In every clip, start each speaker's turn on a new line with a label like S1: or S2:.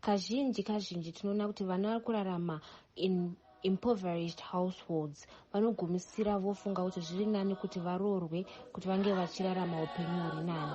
S1: Kazhinji kazhinji tinoona kuti vana vari kurarama in impoverished households vanogumisira vofunga kuti zviri nani kuti varoorwe kuti vange vachirarama upenyu huri nani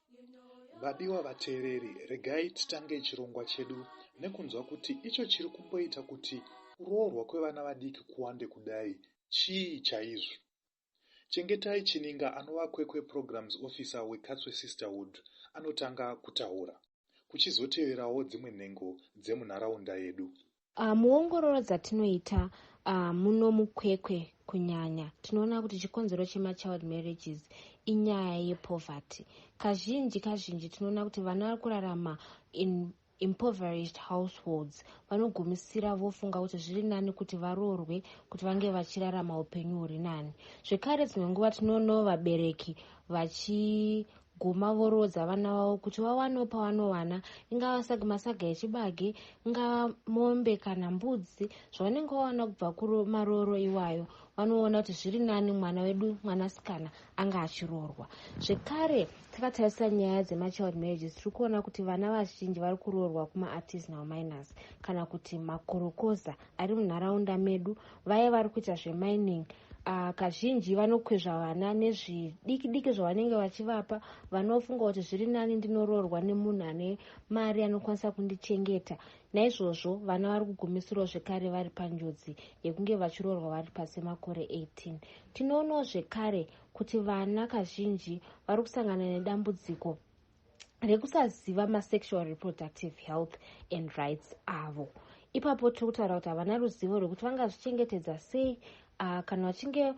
S2: Vadiwa vateereri, regai titange chirongwa chedu nekunzwa kuti icho chiri kumboita kuti kuroorwa kwevana vadiki kuwande kudai chii chaizvo. Chengetai Chininga anova Kwekwe Programs Officer weKatswe Sisterhood anotanga kutaura, kuchizoteverawo dzimwe nhengo dzemunharaunda yedu. Uh, muongororo
S1: dzatinoita uh, muno mukwekwe kunyanya tinoona kuti chikonzero chemachild marriages inyaya yepoverty kazhinji kazhinji tinoona kuti vana vari kurarama in impoverished households vanogumisira vofunga kuti zviri nani kuti varoorwe kuti vange vachirarama upenyu huri nani zvekare dzimwe nguva tinoonawo vabereki vachi guma voroodza vana vavo kuti vawanewo pavanowana ingava sag masaga echibage ingava mombe kana mbudzi zvavanenge vawana kubva kumarooro iwayo vanoona kuti zviri nani mwana wedu mwanasikana anga achiroorwa zvekare takatarisa nyaya dzemachild marriages tiri kuona kuti vana vazhinji vari kuroorwa kumaartisanal minors kana kuti makorokoza ari munharaunda medu vaye vari kuita zvemining uh, kazhinji vanokwezva vana nezvidiki diki zvavanenge vachivapa vanofunga kuti zviri nani ndinoroorwa nemunhu ane mari anokwanisa kundichengeta naizvozvo vana vari kugumisirwa zvekare vari panjodzi yekunge vachiroorwa vari pasi makore 18 tinoonawo zvekare kuti vana kazhinji vari kusangana nedambudziko rekusaziva masexual reproductive health and rights avo ipapo tiri kutaura kuti havana ruzivo rwekuti vangazvichengetedza sei uh, kana vachinge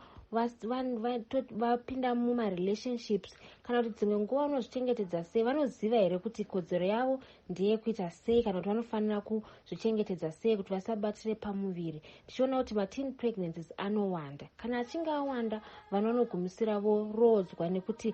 S1: vapinda mumarelationships kana kuti dzimwe nguva vanozvichengetedza sei vanoziva here kuti kodzero yavo ndeyekuita sei kana kuti vanofanira kuzvichengetedza sei kuti vasabatire pamuviri tichiona kuti mateen pregnancies anowanda kana achinge awanda vanhu vanogumisira voroodzwa nekuti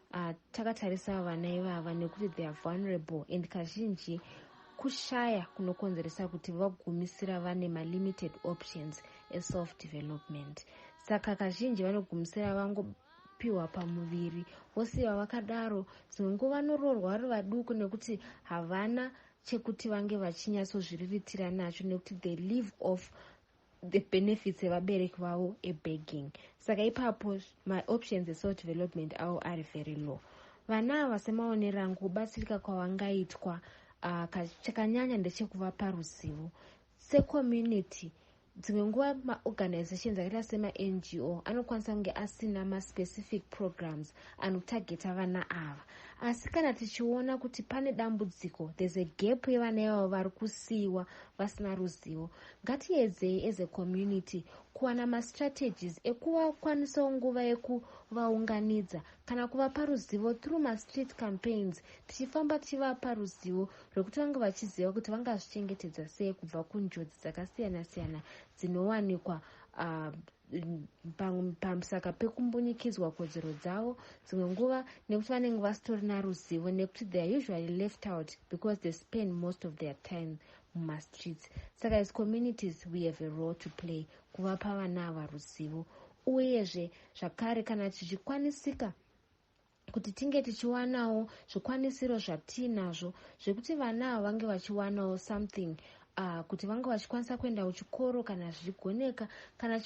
S1: Ah, takatarisa vana ivava nekuti they are vulnerable and kazhinji kushaya kunokonzeresa kuti vagumisira vane malimited options eself development saka kazhinji vanogumisira vangopiwa pamuviri vosiva vakadaro dzimwe nguva vanoroorwa vari vaduku nekuti havana chekuti vange vachinyatsozviriritira nacho nekuti they live off the benefits evabereki vavo ebegging saka ipapo maoptions esoul development avo ari very low vana ava semaonero angu kubatsirika kwavangaitwa uh, chakanyanya ndechekuvapa ruzivo secommunity dzimwe nguva maorganizations akaita semango anokwanisa kunge asina maspecific programs anotageta vana ava asi kana tichiona kuti pane dambudziko there's a gap yevana ivavo vari kusiyiwa vasina ruzivo Ngatiedzei as a community kuwana mastrategies ekuvakwanisawo nguva yekuvaunganidza kana kuvapa ruzivo through mastreet campaigns tichifamba tichivapa ruzivo rwekuti vange vachiziva kuti vangazvichengetedza sei kubva kunjodzi dzakasiyana-siyana dzinowanikwa uh, pamusaka pekumbunyikidzwa kodzero dzavo dzimwe nguva nekuti vanenge vasitorina ruzivo nekuti theyare usually left out because they spend most of their time mumastreets saka as communities we have a role to play kuvapa vana ava ruzivo uyezve zvakare kana tichikwanisika kuti tinge tichiwanawo zvikwanisiro zvatiinazvo zvekuti vana avo vange vachiwanawo something uh, kuti vange vachikwanisa kuenda kuchikoro kana zvichigoneka kana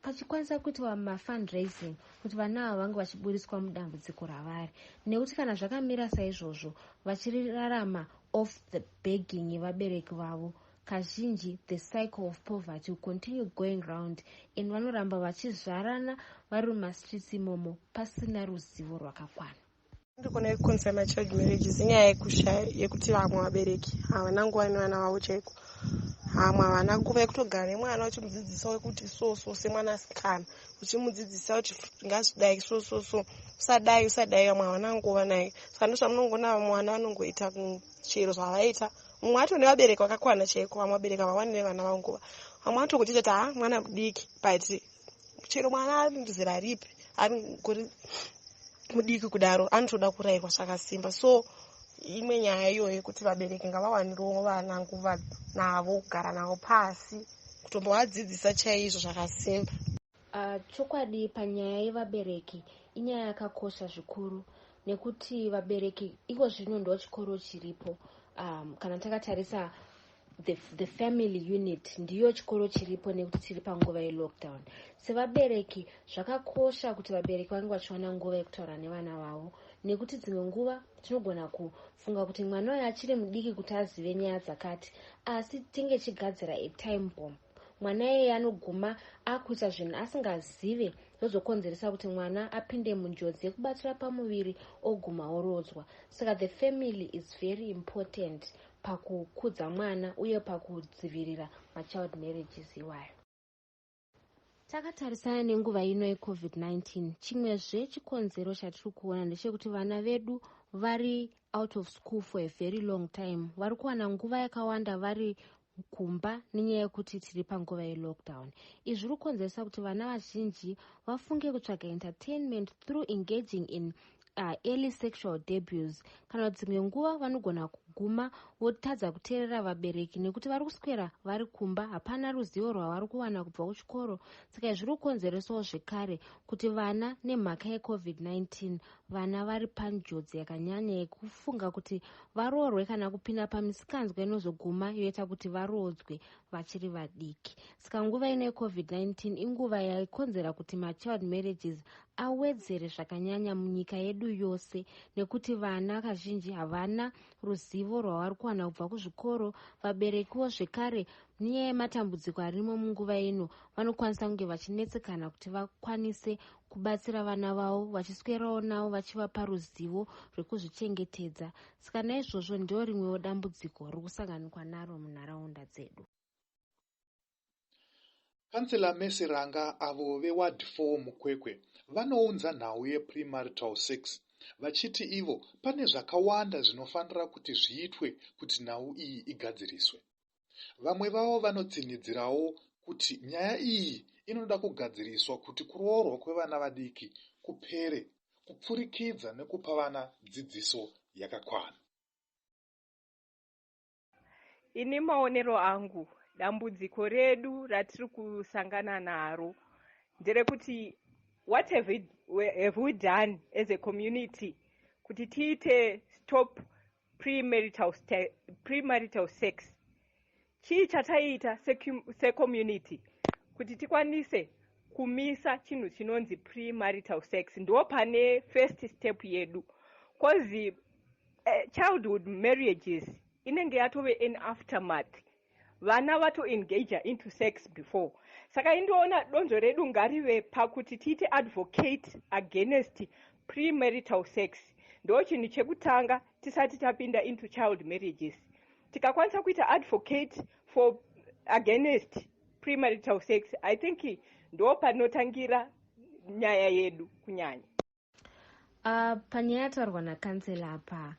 S1: pachikwanisa kuitwa mafundraising kuti vana avo vange vachiburitswa mudambudziko ravari nekuti kana zvakamira saizvozvo vachirarama off the begging yevabereki vavo kazhinji the cycle of poverty will continue going round and vanoramba vachizvarana vari mumastreets imomo pasina ruzivo rwakakwana ndikona
S3: yekuconfirma child marriage zinyaya yekushaya yekuti vamwe vabereki havana nguva nevana vavo chaiko vamwe havana nguva yekutogara nemwana uchimudzidzisa wekuti so so semwana asikana uchimudzidzisa kuti ngazvidai so so so usadai usadai vamwe havana nguva naye saka ndozvamunongoona mwana vanongoita chero zvavaita mumwe ato nevabereki vakakwana chaiko vamwe vabereki havawani nevana vavo nguva vamwe ato kutita ti ha mwana mudiki but chero mwana ari ndizera ripi ari kuri mudiki kudaro anotoda kurayirwa zvakasimba so imwe nyaya iyoyo yekuti vabereki ngavawanirwo vana nguva navo kugara navo pasi kutombovadzidzisa chaizvo zvakasimba Ah, chokwadi
S1: panyaya yevabereki inyaya yakakosha zvikuru nekuti vabereki iko zvino ndo chikoro chiripo um, kana takatarisa the, the family unit ndiyo chikoro chiripo nekuti tiri panguva yelockdown sevabereki zvakakosha kuti vabereki vange vachiwana nguva yekutaura nevana vavo nekuti dzimwe nguva tinogona kufunga kuti mwana uyo achiri mudiki kuti azive nyaya dzakati asi tinge chigadzira atime bomb mwana iyeye anoguma akuita zvinhu asingazive zvozokonzeresa kuti mwana apinde munjodzi yekubatira pamuviri oguma oroodzwa saka the family is very important pakukudza mwana uye pakudzivirira machild marriages iwayo takatarisana nenguva ino yecovid-19 chimwezve chikonzero chatiri kuona ndechekuti vana vedu vari out of school for a very long time vari kuwana nguva yakawanda vari kumba nenyaya yekuti tiri panguva yelockdown izvi zviri kukonzeresa kuti vana vazhinji vafunge kutsvaga entertainment through engaging in uh, early sexual debus kana dzimwe nguva vanogona kuguma votadza kuteerera vabereki nekuti vari kuswera vari kumba hapana ruzivo rwavari kuwana kubva kuchikoro saka izvi zviri kukonzeresawo zvekare kuti vana nemhaka yecovid-19 vana vari panjodzi yakanyanya yekufunga kuti varoorwe kana kupinda pamisikanzwa inozoguma yoita kuti varoodzwe vachiri vadiki saka nguva ino yecovid-19 inguva yaikonzera kuti machild marriages awedzere zvakanyanya munyika yedu yose nekuti vana kazhinji havana ruzivo rwavari kuwana kubva kuzvikoro vaberekiwo zvekare nyaya yematambudziko arimo munguva ino vanokwanisa kunge vachinetsekana kuti vakwanise kubatsira vana vavo vachiswerawo navo vachivapa ruzivo rwekuzvichengetedza saka naizvozvo ndiro rimwewo dambudziko riri kusanganikwa naro munharaunda dzedu
S2: kansela mese ranga avo veward 4 mukwekwe vanounza nhau yeprimarital sex vachiti ivo pane zvakawanda zvinofanira kuti zviitwe kuti nhau iyi igadziriswe Vamwe vavo vanotsinhidzirawo kuti nyaya iyi inoda kugadziriswa kuti kuroorwa kwevana vadiki kupere kupfurikidza nekupa vana dzidziso yakakwana.
S3: Ini maonero angu, dambudziko redu ratiri kusangana naro nderekuti what have we, have we done as a community kuti tiite stop premarital, premarital sex chii chataiita secommunity kuti tikwanise kumisa chinhu chinonzi premarital sex ndo pane first step yedu bcause
S4: uh, eh, childhood marriages inenge yatove an aftermath vana vato engager into sex before saka indoona donzvo redu ngarive pakuti tiite advocate against premarital sex ndo chinhu chekutanga tisati tapinda into child marriages tikakwanisa kuita advocate for against premarital sex i think ndo panotangira nyaya yedu kunyanya Uh,
S1: panyaya yataurwa nakansela apa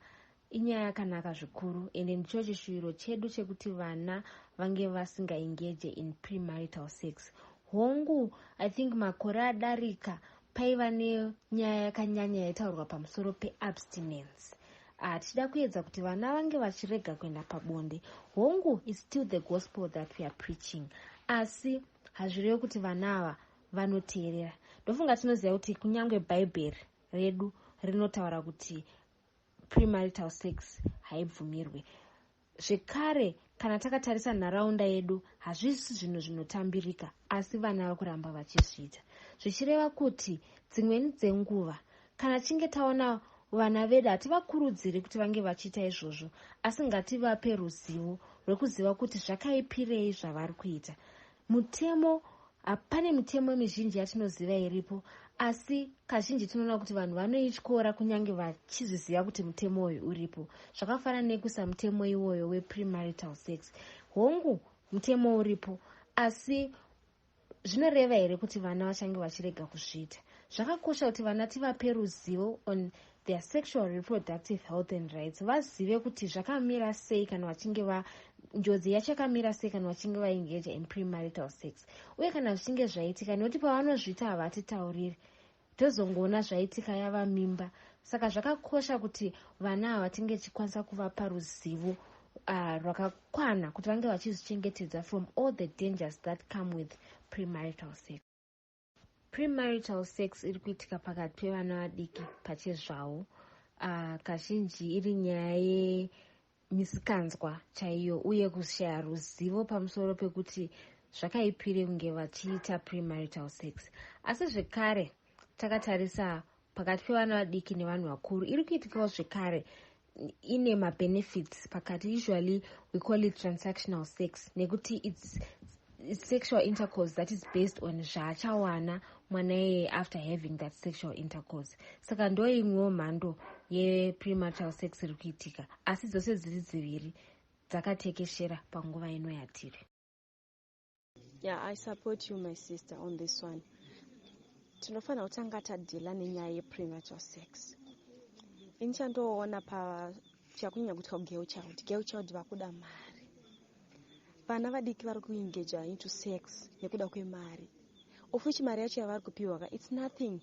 S1: inyaya yakanaka zvikuru ende ndicho chishuwiro chedu chekuti vana vange vasingaengeje in premarital sex hongu i think makore adarika paiva nenyaya yakanyanya yaitaurwa pamusoro peabstinence ah, tichida kuedza kuti vana vange vachirega kuenda pabonde hongu is still the gospel that weare preaching asi hazvirevi kuti vana ava vanoteerera ndofunga tinoziva kuti kunyange bhaibheri redu rinotaura kuti premarital sex haibvumirwe zvekare kana takatarisa nharaunda yedu hazvisi zvinhu zvinotambirika asi vana vakuramba vachizviita zvichireva kuti dzimweni dzenguva kana tichinge taona vana vedu hativakurudziri kuti vange vachiita izvozvo asi ngativape ruzivo rwekuziva kuti zvakaipirei zvavari kuita Mutemo Pane mitemo mizhinji yatinoziva iripo asi kazhinji tinoona kuti vanhu vanoityora kunyange vachizviziva kuti mutemo uyu uripo zvakafanana nekuisa mutemo iwoyo weprimarital sex hongu mutemo uripo asi zvinoreva here kuti vana vachange vachirega kuzviita zvakakosha kuti vana tivape ruzivo on their sexual reproductive health and rights vazive kuti zvakamira sei kana vachinge va njodzi yacho yakamira sei kana vachinge vaengeja in premarital sex uye kana zvichinge zvaitika nekuti pavanozviita havatitauriri tozongoona zvaitika yava mimba saka zvakakosha kuti vana ava tinge tichikwanisa kuvapa ruzivo uh, rwakakwana kuti vange vachizvichengetedza from all the dangers that come with premarital sex premarital sex iri kuitika pakati pevana vadiki pachezvavo uh, kazhinji iri nyaya yemisikanzwa chaiyo uye kushaya ruzivo pamusoro pekuti zvakaipire kunge vachiita premarital sex asi zvekare takatarisa pakati pevana vadiki nevanhu vakuru iri kuitikawo zvekare ine mabenefits pakati usually we call it transactional sex nekuti its sexual intercourse that is based on zvaachawana mwana iyeye after having that sexual intercourse saka ndo imwewo mhando yeprematal sex iri kuitika asi dzose dziri dziviri dzakatekeshera panguva ino yatiri
S5: Yeah, I support you my sister on this one. Tinofanira kutanga tadhila nenyaya yepremature sex. Ini chandoona pa chakunyanya kutwa girl child. Girl child vakuda mari. Vana vadiki vari kuengager into sex nekuda kwemari. Of which mari yacho yavari kupiwa ka it's nothing.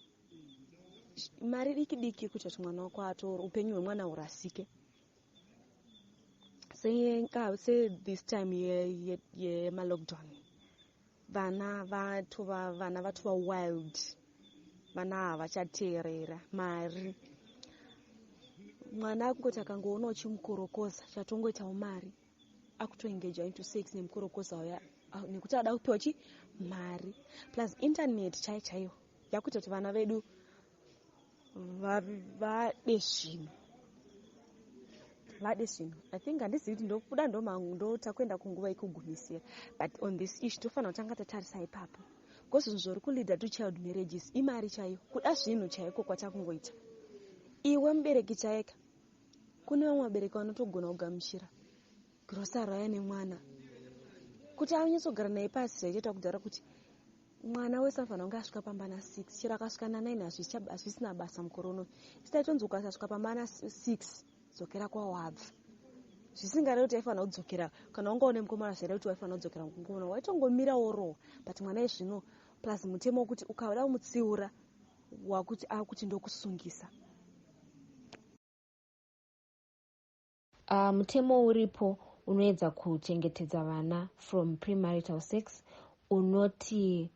S5: Mari diki diki kuti mwana wako atoro upenyu hwemwana hurasike. sethis time yemalockdown ye, ye vana vatova vana vatova wild vana havachateerera mari mwana akungoti akangoona uchimukorokoza chatongoitawo mari akutoengeja into sex nemukorokoza uya ah, nekuti ada kupiwa chi mari plus internet chai chaiyo yakuita kuti vana vedu vade zvinhu vade zvinhu i think handizivi kuti ndokuda ndotakuenda kunguva yekugumisira but on this ish tofanira kutanga tatarisa ipapo because zvinhu zvori kuleader to child marriages imari chaiyo kuda zvinhu chaiko kwatakungoita iwe mubereki chaika kune vamwe vabereki vanotogona kugamuchira grosa raya nemwana kuti anyatsogara naye pasi zvaitoita kudhara kuti mwana wese anofanira kunge asvika pamba na 6 chero akasvika na 9 hazvisina basa mukore uno isi taitonzi ukasasvika pamba na 6 dzokera kwawabva zvisingarevi kuti aifanira kudzokera kana wanga une mukomana zvaireva kuti waifanira kudzokera mukomana waitongomira worohwa but mwana izvino plus mutemo wekuti ukada kumutsiura wakuti akuti ndokusungisa
S1: Uh, mutemo uripo unoedza kuchengetedza vana from premarital sex unoti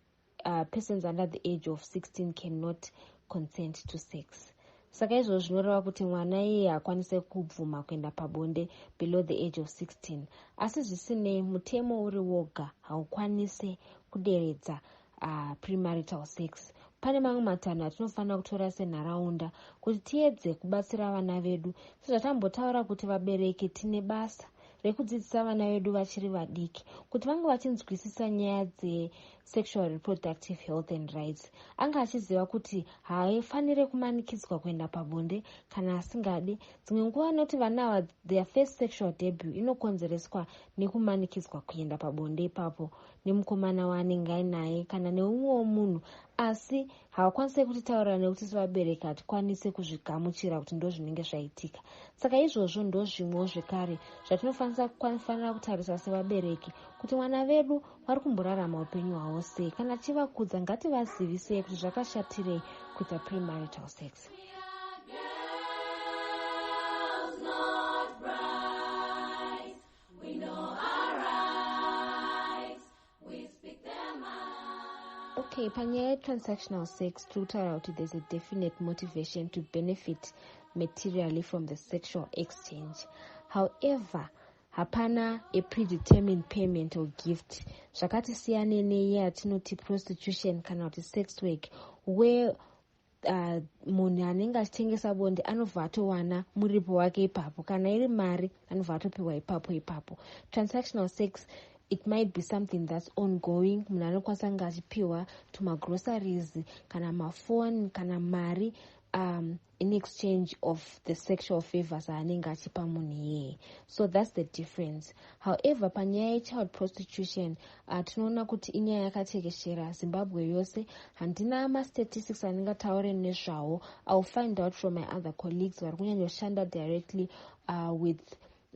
S1: uh, persons under the age of 16 cannot consent to sex saka izvozvo zvinoreva kuti mwana iye hakwanise kubvuma kuenda pabonde below the age of 16 asi zvisinei mutemo uri woga haukwanise kuderedza uh, premarital sex pane mamwe matanho atinofanira kutora senharaunda kuti tiedze kubatsira vana vedu sezvatambotaura kuti vabereki tine basa rekudzidzisa vana vedu vachiri vadiki kuti vange vachinzwisisa nyaya dzesexual reproductive health and rights anga achiziva kuti haafanire kumanikidzwa kuenda pabonde kana asingadi dzimwe nguva anoti vana ava their first sexual debut inokonzereswa nekumanikidzwa kuenda pabonde ipapo nemukomana waanenge ainaye kana neumwewo munhu asi havakwanise kutitaurira nekuti sevabereki hatikwanise kuzvigamuchira kuti ndo zvinenge zvaitika saka izvozvo ndo zvimwewo zvekare zvatinofanira kutarisa sevabereki kuti mwana vedu vari kumborarama upenyu hwavo sei kana tichivakudza ngativazivisei kuti zvakashatirei kuita premarital sex We know our rights, we speak their mind. Okay, panyaya yetransactional sex tiri kutaura kuti there's a definite motivation to benefit materially from the sexual exchange however hapana a predetermined payment or gift zvakati siyane neye yatinoti prostitution kana kuti sex work where uh, munhu anenge achitengesa bonde anobva atowana muripo wake ipapo kana iri mari anobva atopiwa ipapo ipapo transactional sex it might be something that's ongoing munhu anokwanisa kunge achipiwa tumagroceries kana mafoni kana mari um, in exchange of the sexual favors aanenge achipa munhu iyeye so that's the difference however panyaya yechild prostitution Ah, tinoona kuti inyaya yakatekeshera zimbabwe yose handina mastatistics andingataure nezvawo iwill find out from my other colleagues vari kunyanyoshanda directly uh, with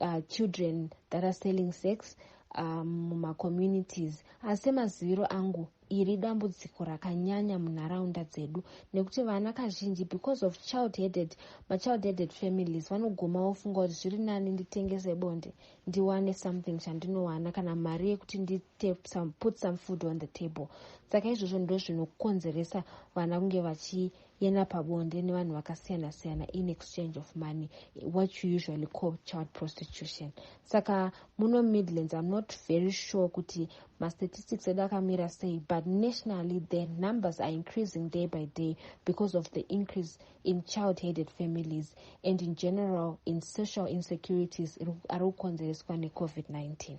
S1: uh, children that are selling sex um, mumacommunities um, asi semaziviro angu iri dambudziko rakanyanya munharaunda dzedu nekuti vana kazhinji because of child headed machild headed families vanoguma vofunga kuti zviri nani nditengese bonde ndiwane something chandinowana kana mari yekuti ndiite some, put some food on the table saka izvozvo ndo zvinokonzeresa vana kunge vachiyenda pabonde nevanhu vakasiyana siyana in exchange of money what you usually call child prostitution saka muno midlands im not very sure kuti mastatistics edu akamira sei but nationally the numbers are increasing day by day because of the increase in child headed families and in general in social insecurities ari kukonzereswa necovid-19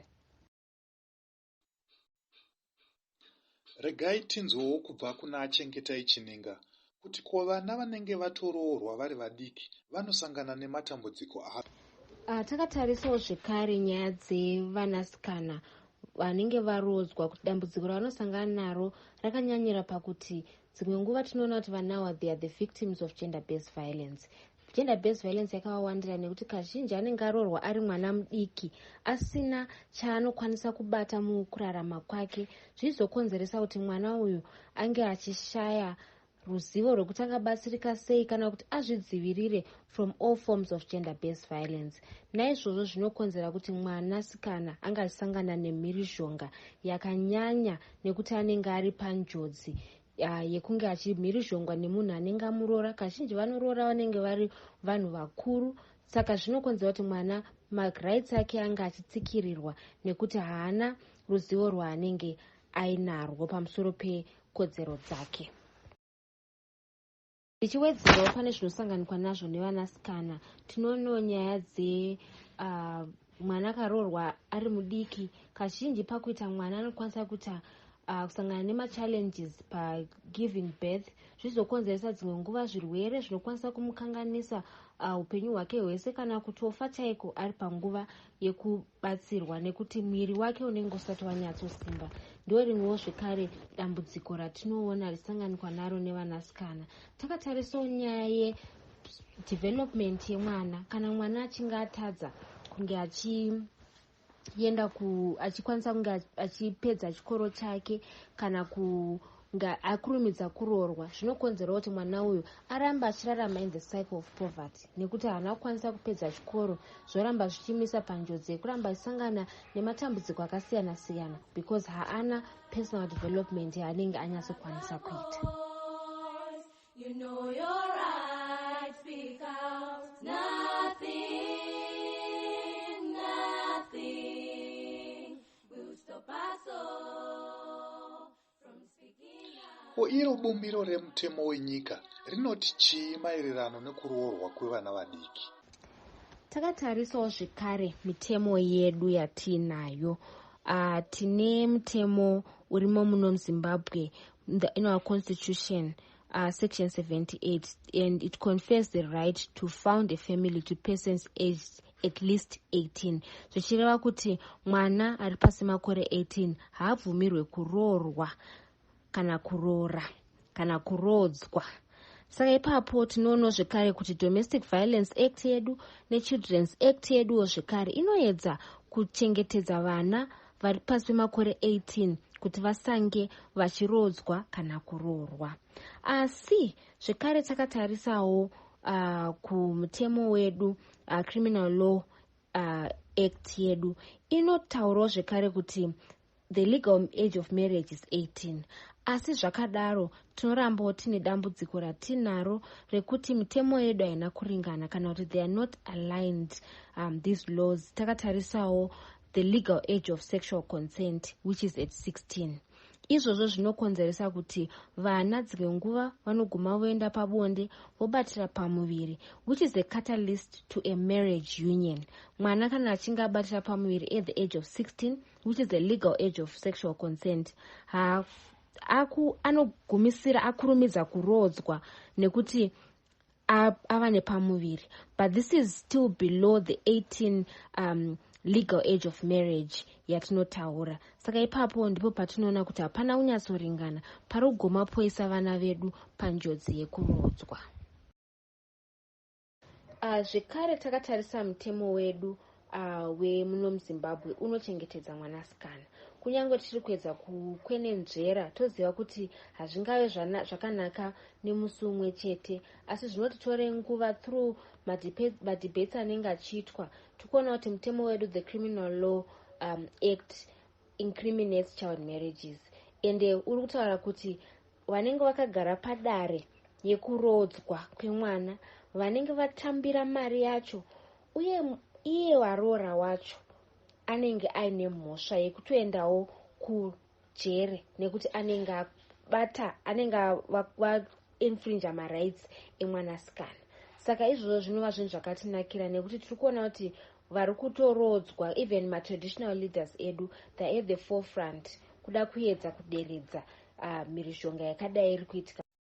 S2: regai tinzwewo kubva kuna achengetai chininga kuti ko vana vanenge vatoroorwa vari vadiki vanosangana nematambudziko api ah, takatarisawo
S1: zvekare nyaya dzevanasikana vanenge varoodzwa kuti dambudziko ravanosangana naro rakanyanyira pakuti Dzimwe nguva tinoona kuti vanawa they are the victims of gender based violence gender based violence yakavawandira nekuti kazhinji anenge aroorwa ari mwana mudiki asina chaanokwanisa kubata mukurarama kwake zvichizokonzeresa kuti mwana uyu ange achishaya ruzivo rwekuti angabatsirika sei kana kuti azvidzivirire from all forms of gender based violence naizvozvo zvinokonzera kuti mwanasikana ange achisangana nemhirizhonga yakanyanya nekuti anenge ari panjodzi yekunge achimhirizhongwa nemunhu anenge amuroora kazhinji vanoroora vanenge vari vanhu vakuru saka zvinokonzera kuti mwana marights ake ange achitsikirirwa nekuti haana ruzivo rwaanenge ainarwo pamusoro pekodzero dzake ndichiwedzerawo uh, pane zvinosanganikwa nazvo nevanasikana tinoonawo nyaya dze uh, mwana akaroorwa ari mudiki kazhinji pakuita mwana anokwanisa kuita uh, kusangana nemachallenges pagiving birth zvizokonzeresa dzimwe nguva zvirwere zvinokwanisa kumukanganisa uh, upenyu uh, hwake hwese kana kutofa chaiko ari panguva batsirwa nekuti mwiri wake unenge usati wanyatsosimba ndo rimwewo zvekare dambudziko ratinoona richisanganikwa naro nevanasikana takatarisawo nyaya yedevelopment yemwana kana mwana achinge atadza kunge achi yenda ku achikwanisa kunge achipedza chikoro chake kana ku nga akurumidza kuroorwa zvinokonzerawo kuti mwana uyu aramba achirarama in the cycle of poverty nekuti haana kukwanisa kupedza chikoro zvoramba zvichimisa panjodzi yekuramba achisangana nematambudziko akasiyana siyana because haana personal development yaanenge anyatsokwanisa kuita
S6: you know your right, speak out, nothing. Ko
S2: iro bumbiro remutemo wenyika rinoti chii maererano nekuroorwa kwevana vadiki?
S1: Takatarisawo zvekare mitemo yedu yatiinayo. Uh, tine mutemo urimo muno muzimbabwe in our constitution uh, section 78 and it confers the right to found a family to persons aged at least 18 zvichireva kuti mwana ari pasi makore 18 haabvumirwe kuroorwa kana kuroora kana kuroodzwa saka ipapo tinoonawo zvekare kuti domestic violence act yedu nechildrens act yeduwo zvekare inoedza kuchengetedza vana vari pasi pemakore 18 kuti vasange vachiroodzwa kana kuroorwa asi zvekare takatarisawo uh, kumutemo wedu uh, criminal law uh, act yedu inotaurawo zvekare kuti the legal age of marriage is 18 asi zvakadaro tinorambawo tine dambudziko ratinaro rekuti mitemo yedu haina kuringana kana kuti they are not aligned um, these laws takatarisawo the legal age of sexual consent which is at 16 izvozvo zvinokonzeresa kuti vana dzimwe nguva vanoguma voenda pabonde vobatira pamuviri which is a catalyst to a marriage union mwana kana achinge abatira pamuviri at the age of 16 which is the legal age of sexual consent ha aku anogumisira akurumidza kuroodzwa nekuti ava nepamuviri but this is still below the 18 um, legal age of marriage yatinotaura saka ipapo ndipo patinoona kuti hapana kunyatsoringana pari kugoma poisa vana vedu panjodzi yekuroodzwa ah, zvekare takatarisa mutemo wedu uh, wemuno muzimbabwe unochengetedza mwanasikana kunyange tichiri kuedza kukwenenzvera toziva kuti hazvingave zvakanaka nemusi umwe chete asi zvinoti tore nguva through madebates anenge achiitwa tikuona kuti mutemo wedu the criminal law um, act incriminates child marriages ende uri kutaura kuti vanenge vakagara padare yekuroodzwa kwemwana vanenge vatambira mari yacho uye iye waroora wacho anenge aine mhosva yekutoendawo kujere nekuti anenge abata anenge vainfrinja marights emwanasikana saka izvozvo zvinova zvinhu zvakatinakira nekuti tiri kuona kuti vari kutoroodzwa even matraditional leaders edu the at the forefront kuda kuedza kuderedza ah, mhirizhonga yakadai iri kuitika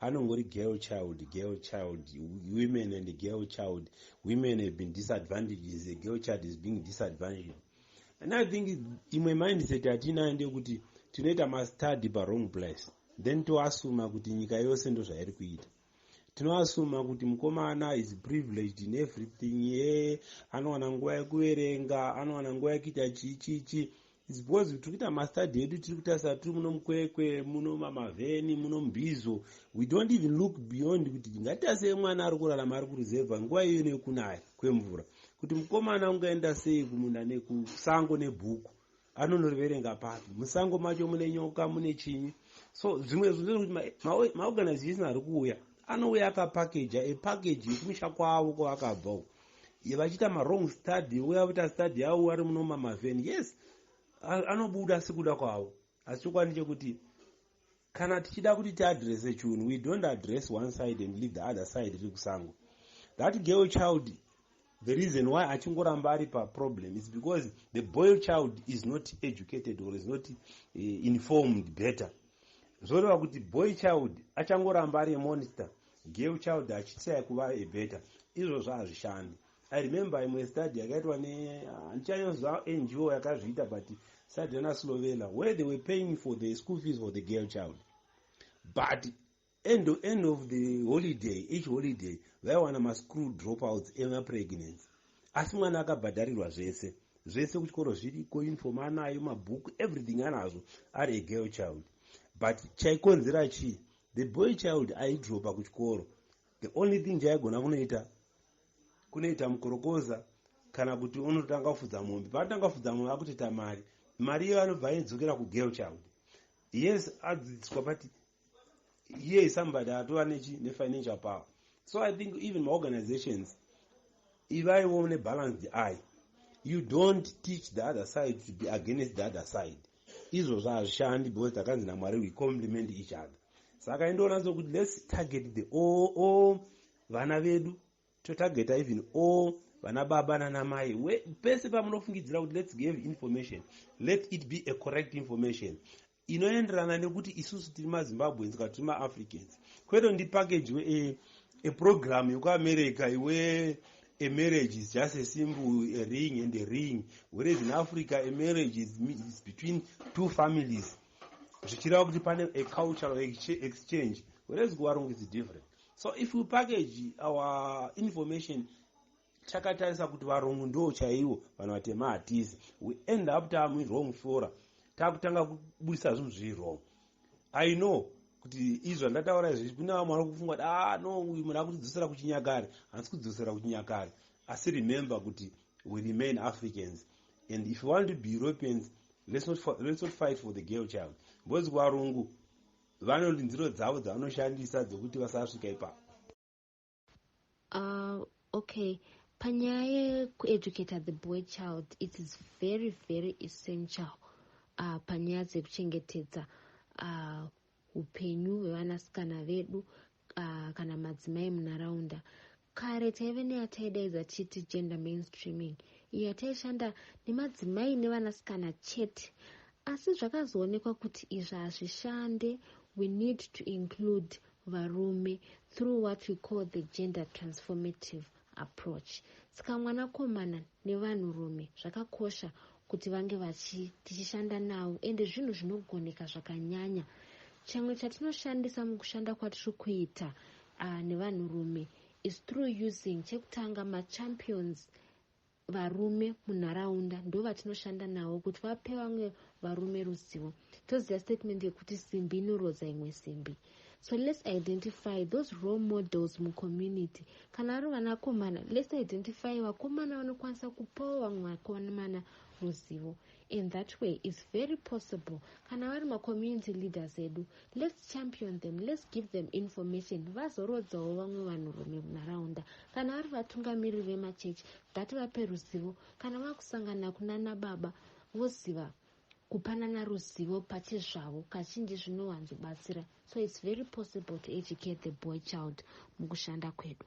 S7: anongori girl child girl child women and girl child women have been disadvantages a girl child is being disadvantaged and i think imwe mindset yatiinayo ndeyekuti tinoita mastudy pawrong place then toasuma kuti nyika yose ndozvairi kuita tinoasuma kuti mukomana is privileged in everything ye anowana nguva yekuverenga anowana nguva yekuita chii chii chii It's because tiri kuita mastudy edu tiri kutarisa tiri muno mukwekwe muno mamavheni muno mbizo we don't even look beyond kuti ngatiasei mwana ari kurarama ari kuruzevha nguva iyoyo nekunaya kwemvura kuti mukomana ungaenda sei kumunda nekusango nebhuku anonoriverenga papi musango macho mune nyoka mune chinyi so zvimwe zvinhu zvekuti maorganization ari kuuya anouya akapakeja epakeji yekumusha kwavo kwavakabva uko ye vachiita mawrong study vouya vaita study yavo vari muno mamavheni yes anobuda sekuda kwavo asi chokwadi chekuti kana tichida kuti tiadrese chunhu we don't address one side and leave the other side riri kusango that girl child the reason why achingoramba ari paproblem is because the boy child is not educated or is not uh, informed better zvoreva kuti boy child achangoramba ari emonster Girl child achitry kuva a better izvozvo hazvishandi. I remember imwe study yakaitwa ne handichanyonzwa NGO yakazviita but study yana Slovela where they were paying for the school fees for the girl child but end of, end of the holiday each holiday vaiwana mascrew dropouts emapregnancy asi mwana akabhadharirwa zvese zvese kuchikoro zviriko uniform anayo mabhuku everything anazvo ari egirl child but chaikonzera chii The boy child aidropa kuchikoro. The only thing chaigona kunoita kunoita mukorokoza kana kuti unotanga kufudza mombe. Paanotanga kufudza mombe akutoita mari. Mari iyo anobva aidzokera kugirl child. Yes, adzidziswa but here is somebody atova nechi nefinancial power. So I think even maorganizations ivaiwo nebalanced eye. You don't teach the other side to be against the other side. izvozvo hazvishandi because takanzi namwari we compliment each other saka indonatso kuti let's target the all, all vana vedu totargeta even all vana baba nanamai pese pamunofungidzira kuti let's give information let it be a correct information inoenderana nekuti isusu tiri mazimbabweans ka tiri maafricans kwete ndipackage we a, a program yekuamerica iwe A marriage is just a symbol, a ring and a ring. Whereas in Africa, a marriage is, is between two families. Zvichireva kuti pane a cultural exchange. Whereas kuvarungu is different. So if we package our information takatarisa kuti varungu ndo chaiwo vanhu vatema hatisi we end up tamuwrong fora takutanga kubudisa zvinhu zviri wrong i know kuti izvi zvandataura izvi kune vamwe vari kufunga kuti ah no uyu munhu akutidzosera kuchinyakare hansi kudzosera kuchinyakare asi remember kuti we remain africans and if you want to be europeans let's not, let's not fight for the girl child because kuvarungu vanolinziro dzavo dzavanoshandisa dzekuti vasasvika ipapo
S1: Uh, okay panyaya yekueducata the boy child it is very very essential uh, panyaya dzekuchengetedza uh, upenyu uh, hwevanasikana vedu uh, kana madzimai munharaunda kare taive neyataidaidza tichiti gender mainstreaming iyo yataishanda nemadzimai nevanasikana chete asi zvakazoonekwa kuti izvi hazvishande we need to include varume through what we call the gender transformative approach saka mwanakomana nevanhurume zvakakosha kuti vange vachi tichishanda navo ende zvinhu zvinogoneka zvakanyanya chimwe chatinoshandisa mukushanda kwatiri kuita uh, nevanhurume is through using chekutanga machampions varume munharaunda ndovatinoshanda navo kuti vape vamwe varume ruzivo toziva statement yekuti simbi inorodza imwe simbi so let's identify those role models mucommunity kana ari vanakomana let's identify vakomana vanokwanisa kupawo vamwe vakomana ruzivo In that way it's very possible kana vari macommunity leaders edu let's champion them let's give them information vazorodzawo vamwe vanhurume munharaunda kana vari vatungamiriri vemachechi ngativape ruzivo kana vakusangana kunana baba voziva kupanana ruzivo pachezvavo kazhinji zvinowanzobatsira so it's very possible to educate the boy child mukushanda kwedu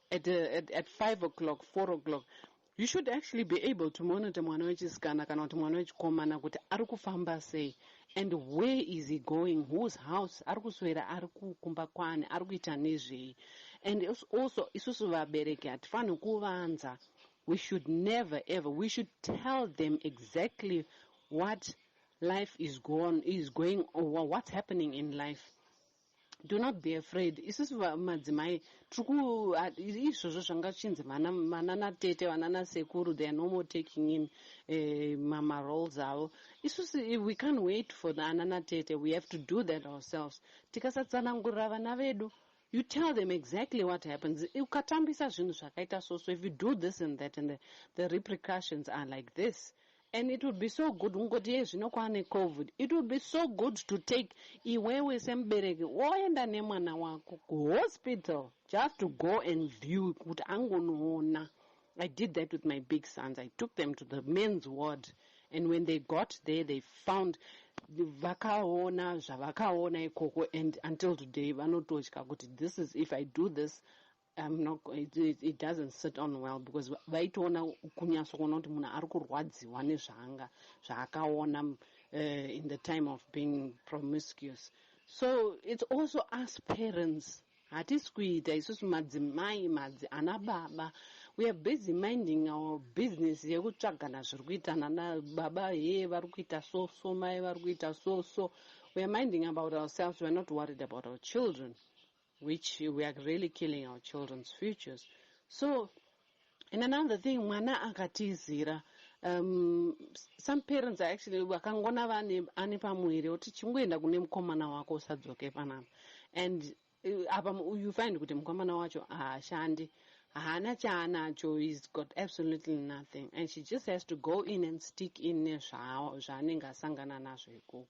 S8: at, uh, at, at five o'clock four o'clock you should actually be able to monitor mwana wechisikana kana kuti mwana wechikomana kuti ari kufamba sei and where is he going whose house ari kuswera ari kukumba kwani ari kuita nezvei and also isusu vabereki hatifanhi kuvanza we should never ever we should tell them exactly what life is, gone, is going or what's happening in life Do not be afraid isusu madzimai tiriku izvozvo zvanga chinzi vana vana natete vana nasekuru they are no more taking in eh, mama roles avo isusu we can't wait for the ana natete we have to do that ourselves tikasatsanangurira vana vedu you tell them exactly what happens ukatambisa zvinhu zvakaita so so if you do this and that and the, the repercussions are like this And it will be so good kungoti iye zvino kwaane covid it will be so good to take iwewe semubereki woenda nemwana wako kuhospital just to go and view kuti angonoona I did that with my big sons I took them to the men's ward and when they got there they found vakaona zvavakaona ikoko and until today vanototya kuti this is if I do this I'm not, it, it, it doesn't sit on well because vaitoona kunyatso kuona kuti munhu ari kurwadziwa nezvaanga zvaakaona uh, in the time of being promiscuous so it's also us parents hatisi kuita isusu madzimai madzi ana baba we are busy minding our business yekutsvagana zviri kuita nana baba hee vari kuita so so mai vari kuita so so we are minding about ourselves we are not worried about our children which we are really killing our children's futures so and another thing mwana akatizira um, some parents are actually vakangona vane ane pamuviri oti chingoenda kune mukomana wako usadzoke panapa and uh, apa uh, you find kuti mukomana wacho haashandi haana chaanacho he's got absolutely nothing and she just has to go in and stick in nezvaanenge asangana nazvo ikoko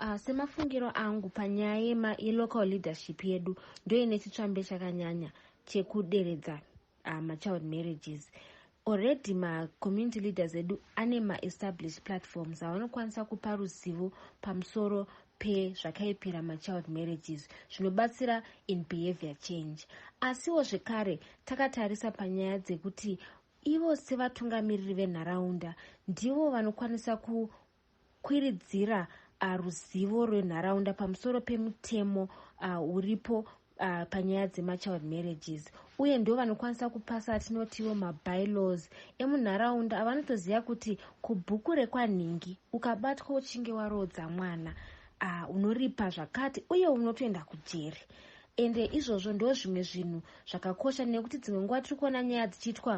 S1: Uh, semafungiro angu panyaya yema yelocal leadership yedu ndoine chitsvambe chakanyanya chekuderedza uh, machild marriages already macommunity leaders edu ane maestablished platforms avanokwanisa kupa ruzivo pamusoro pezvakaipira machild marriages zvinobatsira in behavior change asiwo zvekare takatarisa panyaya dzekuti ivo sevatungamiriri venharaunda ndivo vanokwanisa ku kukwiridzira uh, ruzivo rwenharaunda pamusoro pemutemo uh, uripo uh, panyaya dzemachild marriages uye ndo vanokwanisa kupasa atinotiwo mabylaws emunharaunda avanotoziva kuti kubhuku rekwanhingi ukabatwa uchinge waroodza mwana uh, unoripa zvakati uye unotoenda kujeri ende izvozvo ndo zvimwe zvinhu zvakakosha nekuti dzimwe nguva tiri kuona nyaya dzichiitwa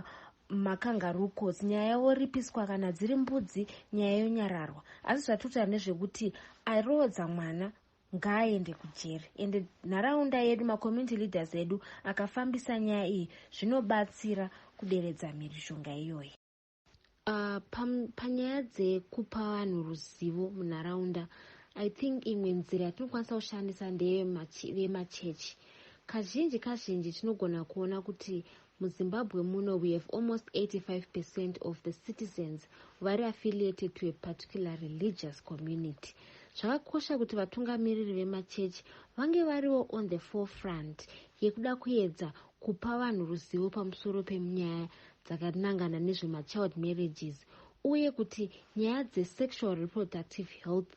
S1: makangarucos nyaya yavoripiswa kana dziri mbudzi nyaya yonyararwa asi zvatotaura nezvekuti airoodza mwana ngaaende kujeri ende nharaunda yedu macommunity leaders edu akafambisa nyaya iyi zvinobatsira kuderedza mhirizhonga iyoyi uh, panyaya pa dzekupa vanhu ruzivo munharaunda i think imwe nzira yatinokwanisa kushandisa ndeyevemachechi kazhinji kazhinji tinogona kuona kuti MuZimbabwe muno we have almost 85 percent of the citizens vari affiliated to a particular religious community. Zvakakosha kuti vatungamiriri vemachechi vange variwo on the forefront yekuda kuedza kupa vanhu ruzivo pamusoro pemunyaya dzakanangana nezvemachild marriages uye kuti nyaya dzesexual reproductive health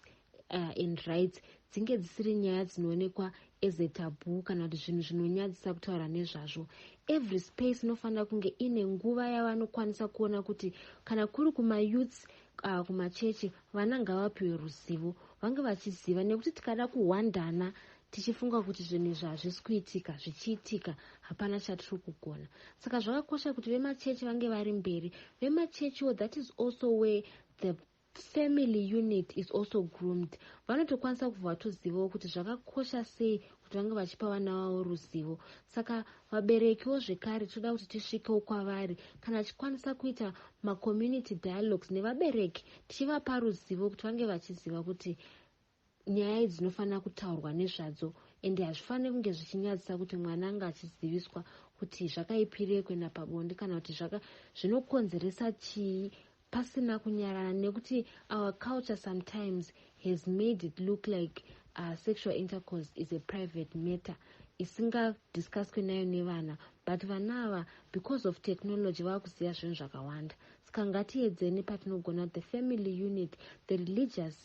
S1: uh, and rights dzinge dzisiri nyaya dzinoonekwa as a tabu kana kuti zvinhu zvinonyadzisa kutaura nezvazvo every space inofanira kunge ine nguva yavanokwanisa kuona kuti kana kuri kumayouths uh, kumachechi vana ngavapiwe ruzivo vange vachiziva nekuti tikada kuhwandana tichifunga kuti zvinhu izvi hazvisi kuitika zvichiitika hapana chatiri kugona saka zvakakosha kuti vemachechi vange vari mberi vemachechiwo that is also where the Family unit is also groomed. Vanotokwanisa kubva vatozivawo kuti zvakakosha sei kuti vange vachipa vana vavo ruzivo. Saka vaberekiwo zvekare tinoda kuti tisvikewo kwavari kana tichikwanisa kuita macommunity dialogues nevabereki tichivapa ruzivo kuti vange vachiziva kuti nyaya idzi dzinofanira kutaurwa nezvadzo ende hazvifaniri kunge zvichinyadzisa kuti mwana anga achiziviswa kuti zvakaipirei kuenda pabonde kana kuti zvaka zvinokonzeresa chii pasina kunyarana nekuti our culture sometimes has made it look like uh, sexual intercourse is a private matter isingadiscuswe nayo nevana but vana ava because of technology vava kuziva zvinhu zvakawanda saka ngatiedzeni patinogona the family unit the religious